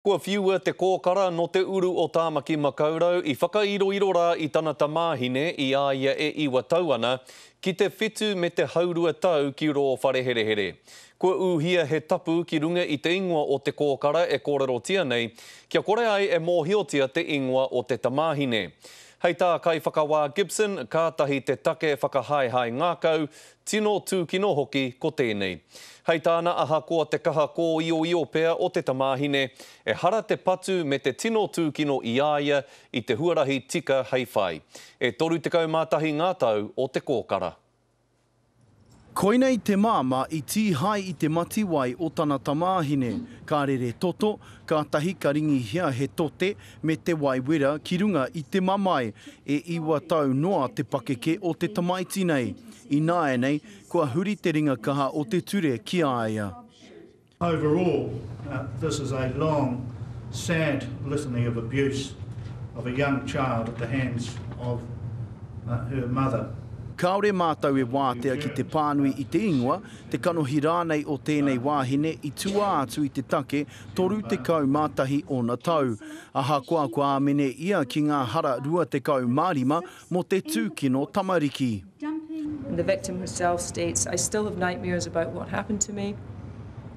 Kua whiua te kōkara nō te uru o Tāmaki-makau-rau i whakairoiro rā i tana tamāhine i a ia e iwa tau ana, ki te whitu me te haurua tau ki rō whareherehere. Kua ūhia he tapu ki runga i te ingoa o te kōkara e kōrerotia nei, kia kore ai e mōhiotia te ingoa o te tamāhine. Hei tā Kaiwhakawā Gibson, kātahi te take whakahaehae ngākau, Tino tūkino hoki ko tēnei. Hei tāna ahakoa te kaha kōioio pea o te tamāhine, ehara te patu me te tino tūkino i a ia i te huarahi tika hei whai. E 31 ngā tau o te kōkara. Koinei te māmā i tīhae i te mati wai o tana tamāhine, ka rere toto, kātahi ka ringihia he tote, me te wai wera ki runga i te mamae, e iwa tau noa te pakeke o te tamaiti nei. Ināianei, kua huri te ringa kaha o te ture ki a ia. Overall, this is a long, sad litany of abuse of a young child at the hands of her mother. Kāore mātou e wātea ki te pānui i te ingoa, te kanohi rānei o tēnei wāhine i tuā atu i te take Toru tekau mā tahi ōna tau. Ahakoa kua āmene ia ki ngā hara rua tekau mā rima mō te tūkino tamariki. The victim herself states, I still have nightmares about what happened to me.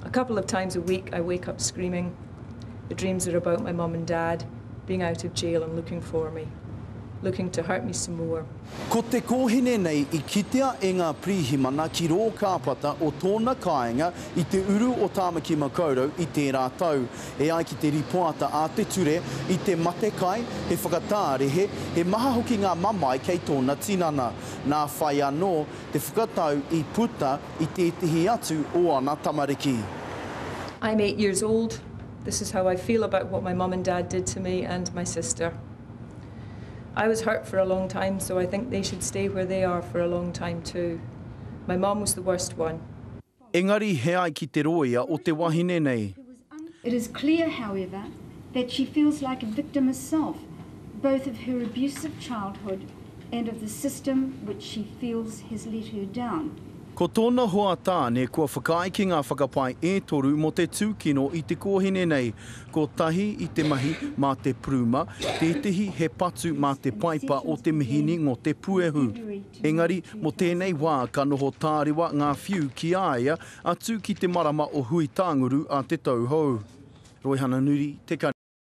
A couple of times a week I wake up screaming. The dreams are about my mum and dad being out of jail and looking for me. Looking to hurt me some more. Ko te kōhine nei i kitea e ngā pirihimana ki rō kāpata o tōna kāinga i te uru o Tāmaki Makaurau i tērā tau. E ai ki te rīpoata a te ture, i te mate kai, he whakatārehe, he maha hoki ngā mamae kei tōna tinana. Nā whai anō te whakatau i puta i tētehi atu o ana tamariki. I'm eight years old, this is how I feel about what my mum and dad did to me and my sister. I was hurt for a long time so I think they should stay where they are for a long time too. My mom was the worst one. Engari he ai ki te rōia o te wahine nei. It is clear however that she feels like a victim herself both of her abusive childhood and of the system which she feels has let her down. Ko tōna hoa tāne kua whakaae ki ngā whakapae e toru mō te tūkino i te kōhine nei. Kotahi i te mahi mā te puruma, tētehi he patu mā te paipa o te mihini ngō te puehu. Engari, mō tēnei wā ka noho tārewa ngā whiu ki a ia, atu ki te marama o Huitanguru a Te Tauhou. Roihana Nuri, Te Kari.